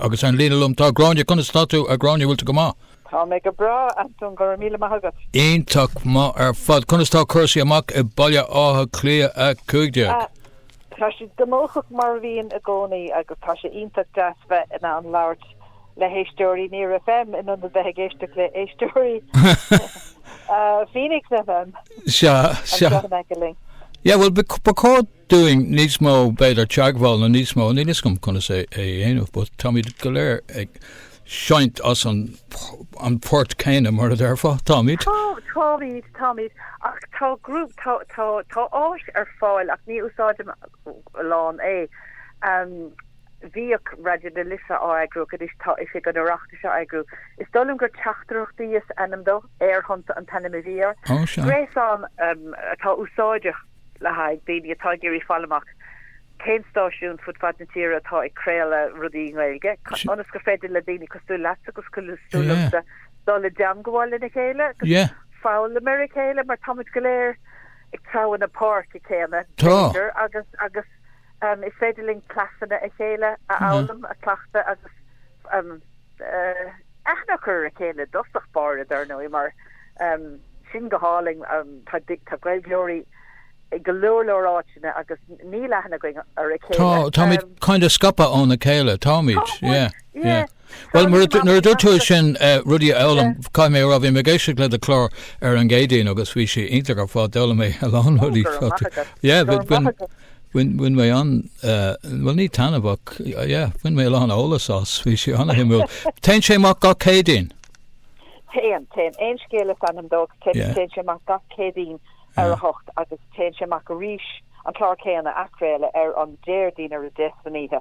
Agus ar an líne liom, tá Gráinne, conas tá tú? A Ghráinne, bhfuil tú go maith? Tá mé go breá, Antoin, go raibh míle maith agat. Iontach maith ar fad. Conas tá cúrsaí amach i Baile Átha Cliath 15? Tá siad gnóthach mar a bhíonn i gcónaí agus tá sé iontach deas bheith in ann labhairt le héisteoirí Near FM in ionad a bheith ag éisteacht le héisteoirí Phoenix FM. Sea, sea. An seo a mbeidh go linn. Yeah, well, ba chóir. dúinn níos mó, b'fhéidir teagmháil nó níos mó, níl 'fhios agam conas é a dhéanamh, but táimid go léir ag seinnt as an port céanna, mar a déarfá, táimid? Tá, táimid, táimid, ach tá grúpa, tá, tá, tá áis ar fáil ach ní úsáidtear a lán é. Bhíodh Raidió na Life á eagrú ach anois tá Oifig an Oireachtais á eagrú. Is dóigh liom gur Teachtaireachtaí is ainm dó, Aerthonnta an t-ainm a bhí air. Ó, sea. Gréasán atá úsáideach. le haghaidh daoine atá ag iarraidh fáil amach cén stáisiún fud fad na tíre atá ag craoladh rudaí i nGaeilge, ionas gur féidir le daoine cosúil leatsa agus cosúil liomsa dul i dteagmháil lena chéile agus foghlaim óna chéile mar táimid go léir ag treabhadh na páirce céanna b'fhéidir agus agus is féidir linn cleasanna a chéile a fhoghlaim, a chleachtadh agus Aithne a chur ar a chéile i dtosach báire, dar ndóigh, mar sin, go háirithe tá Gaeilgeoirí i go leor leor áiteanna agus níl aithne againn ar a chéile. Táimid kind of scaipthe óna chéile, táimid, yeah, yeah. Bhuel, nuair a dúirt tú sin rudaí a fhoghlaim, caithfidh mé a rá, bhí mé ag éisteacht le do chlár ar an gCéadaoin agus bhí sé iontach ar fad, d'fhoghlaim mé a lán rudaí. Yeah, bhí, bhí. Bhain, bhain mé an, bhuel ní taitneamh ach, yeah, bhain mé a lán eolas as, bhí sé an-shuimiúil. Téann sé amach gach Céadaoin? Téann, téann. Aon Scéal is ainm dó, téann, téann sé amach gach Céadaoin ar a hocht agus téann sé amach arís an clár céanna, athchraoladh, ar an Déardaoin ar a deich san oíche.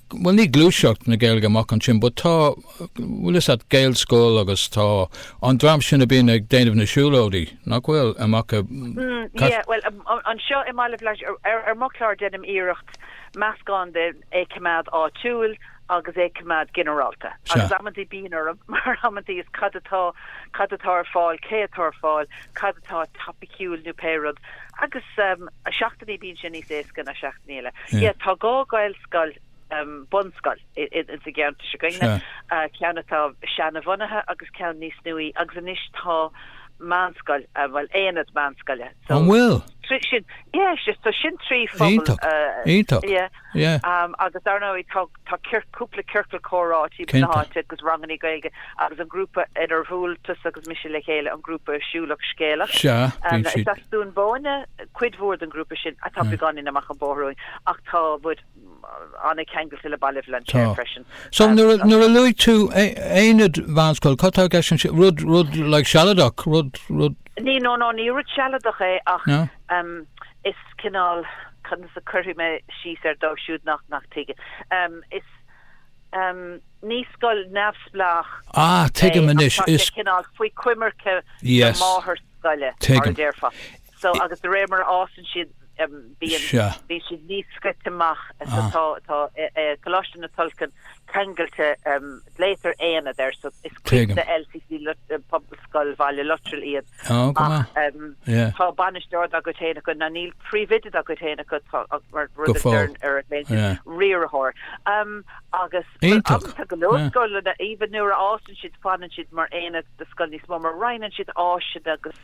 Bhuel níl gluaiseacht na Gaeilge amach ansin but tá bhfuil fhios a'd Gaelscoil agus tá an dream sin a bíonn ag déanamh na siúlóidí nach bhfuil amach i Cat. Hm, ie, bhuel anseo i mBaile Bhlainséir ar mo chlár deinim iarracht meascán de é coimeád áitiúil agus é coimeád ginearálta agus amantaí bíonn orm mar amantaí is cad atá cad atá ar fáil cé atá ar fáil cad atá topaiciúil nó pé rud agus seachtainí bíonn sé níos éasca ná seachtainí eile. Ie tá dhá Ghaelscoil scoil, bunscoil, ins an gceantar seo againn, ceann atá seana-bhunaithe agus ceann níos nuaí, agus anois tá meánscoil, bhuel, aonad meánscoile. An bhfuil? Tá sin, yeah, is just, so sin trí phobal. Iontach, iontach, yeah. Yeah. Um, agus dar ndóigh tá, tá ciorc, cúpla ciorcal comhrá thart na háite agus rangannaí Gaeilge agus an grúpa inar bhuail tusa agus mise le chéile, an grúpa Siúlach Scéalach. Sea, bíonn siad. Is as Dún Bóinne cuid mhór den grúpa sin atá beagáinín amach an bóthar uainn. Ach tá muid an-ceangailte le Baile Bhlainséir freisin. So nuair a luaigh tú aonad meánscoile, cad atá i gceist ansin? Rud, rud like sealadach? Rud, rud. Ní, no, no, ní rud sealadach é ach is cineál, conas a chuirfidh mé síos air dóibh siúd nach, nach tuigeann. Ní scoil neamhspleách é ach tá sé cineál faoi choimirce na mátharscoile, mar a déarfá. So, agus de réir mar a fhásann siad, bíonn, Sea. bíonn siad níos scoite amach. So, tá, tá Coláiste na Tulchann ceangailte, glaoitear Aonad air, so is cuid de LCC, Pobalscoil Bhaile Luttrell iad. Á, go maith. Ach, em, Yeah. tá bainisteoir dá gcuid féin acu, ná níl príomhoide dá gcuid féin acu, tá, ach mar rud Go a fóill. dtearn ar a, Yeah. riarthóir. Em, agus, well, Iontach. agus tá go leor Yeah. scoileanna, aoibhinn, nuair a fhásann siad, fanann siad mar Aonad de scoil níos mó, mar roinneann siad áiseanna agus,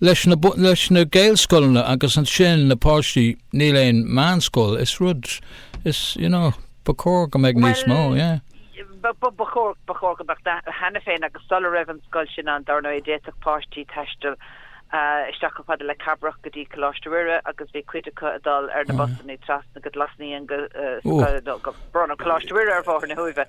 Leis na leis na Gaelscoileanna agus ansin na páistí níl aon meánscoil is rud is you know ba chóir go mbeadh níos mó yeah. Ba ba ba chóir ba chóir go mbeadh cheana féin agus sula raibh an scoil sin ann dar ndóigh d'fhéadfadh páistí taisteal isteach chomh fada le Cabrach go dtí Coláiste Mhuire agus bhí cuid acu ag dul ar na busanna trasna go Glas Naíon go gur bronnadh Coláiste Mhuire ar Bhóthar na hUaimhe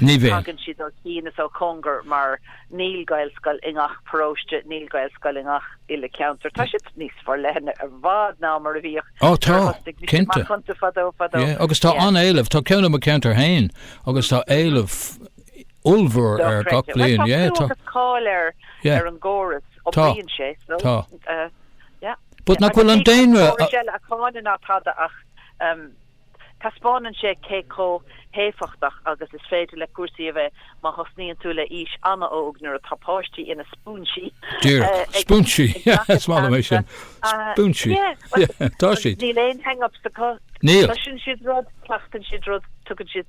Ní bhí. Tagann siad ó chian is ó chóngar mar níl Gaelscoil i ngach paróiste, níl Gaelscoil i ngach uile ceantar. Tá siad níos forleithne i bhfad ná mar a bhíodh nuair a thosnaigh mise amach iontu fadó fadó. Tá, cinnte, agus tá an-éileamh. Tá ceann i mo cheantar féin agus tá éileamh ollmhór air gach bliain. Tá clú agus cáil ar an gcóras, oibríonn sé. Tá. But nach bhfuil an daonra? Tá córas eile a cháineann ná tada ach. Taispeánann sé cé chomh héifeachtach agus is féidir le cúrsaí a bheith má thosnaíonn tú le aois an-óg nuair atá páistí ina spúinsí Díreach. Spúinsí. ag gach aon Is maith liom é sin. Spúinsí. Tá siad. Níl aon hang-ups acu. Níl. Cloiseann siad rud, cleachtann siad rud, tugann siad.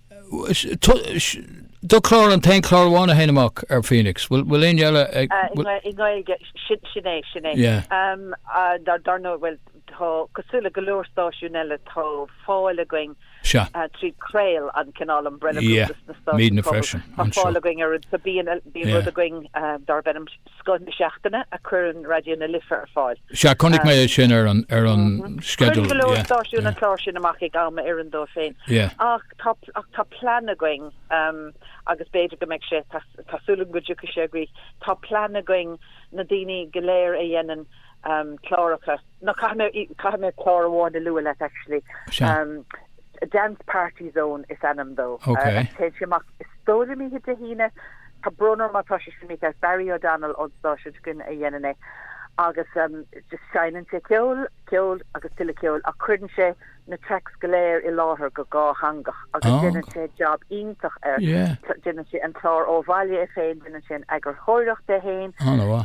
Do chlár an t-aon chlár amháin a théann amach ar Phoenix. Bhfuil aon cheann eile ag? I nGaeilge, sin é, sin é. Dar ndóigh, bhuel tá cosúil le go leor stáisiún eile tá fáil againn trí Craol an cineál umbrella freisin. Tá fáil againn ar bíonn rud againn darb ainm Scoth na Seachtaine a cuireann Raidió na Life ar fáil. Sea, chonaic mé é sin ar an sceideal. Cuireann go leor stáisiún an clár sin amach ag am a oireann dóibh féin. Ach tá plean againn, agus b'fhéidir go mbeidh sé, tá súil agam go dtiocfaidh sé i gcrích, tá plean againn na daoine go léir a dhéanann cláracha, No caithfidh mé caithfidh mé clár amháin a lua leat actually. Sea. Dance Party Zone is ainm dó. Ok. Agus téann sé amach is dóigh liom oíche Dé hAoine. Tá brón orm má tá sé sin mícheart, is Barry O'Donnell ón stáisiún s'againn a dhéanann é agus just seinneann sé ceol, ceol agus tuilleadh ceoil ach cuireann sé na tracks go léir i láthair go dhátheangach agus déanann sé jab iontach air. Déanann sé an clár ó bhaile é féin, déanann sé an eagarthóireacht é féin,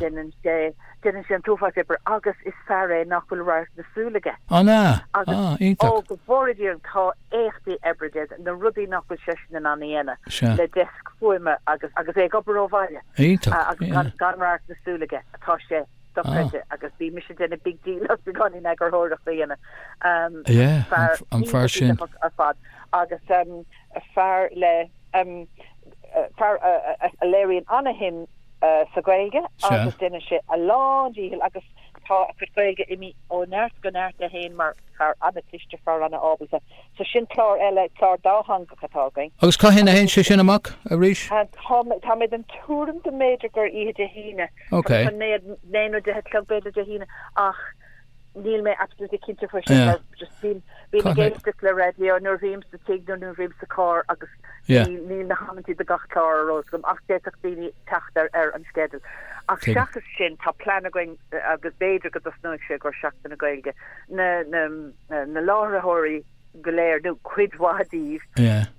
déanann sé déanann sé an t-uafás oibre agus is fear é nach bhfuil radharc na súl aige. An ea? Agus, Ah, iontach. Ó, go bhfóire Dia orainn, tá éachtaí oibre déanta, na rudaí nach bhfuil seisean in ann a dhéanamh. Sea. Le deasc fuaime agus agus é ag obair ó bhaile. Iontach. Agus gan radharc na súl aige, tá sé, dochreidte ah. agus bhí mise déanamh big deal as beagáinín eagarthóireacht a dhéanamh um yeah fear an fear sin ar fad agus um fear le um fear a léiríonn ana-shuim uh, sa Ghaeilge agus déanann sé a lándícheall agus tá a chuid Gaeilge imithe ó neart go neart aige féin mar fear ana-chliste fear ana-ábalta so sin clár eile clár dátheangach atá againn. Agus cathain a théann sé sin amach arís? Tá mé den tuairim go mb'fhéidir gur oíche Dé hAoine Ok. Naoi nó deich a chlog b'fhéidir Dé hAoine ach níl mé absolutely cinnte faoi sin. Yeah. Just bím, bím ag éisteacht le raidió nuair bhím sa tigh nó nuair bhím sa charr agus Yeah. níl, níl na hamantaí do gach clár ar eolas agam ach d'fhéadfadh daoine teacht ar, ar an sceideal. Ach Tuigim. seachas sin tá plean againn agus b'fhéidir go dtosnóidh sé i gcomhair Seachtain na Gaeilge na, na, na láithreoirí go léir nó cuid mhaith díobh, Yeah.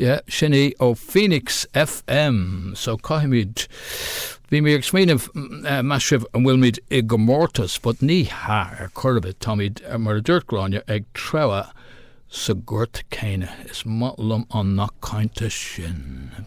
Yeah, sin í ó Phoenix FM. So caithfimid, bhí mé ag smaoineamh, meas sibh an bhfuilmid i gcomórtas, but ní hea, ar chor ar bith, táimid, mar a dúirt Gráinne, ag treabhadh sa ghort céanna. Is maith liom an nath cainte sin.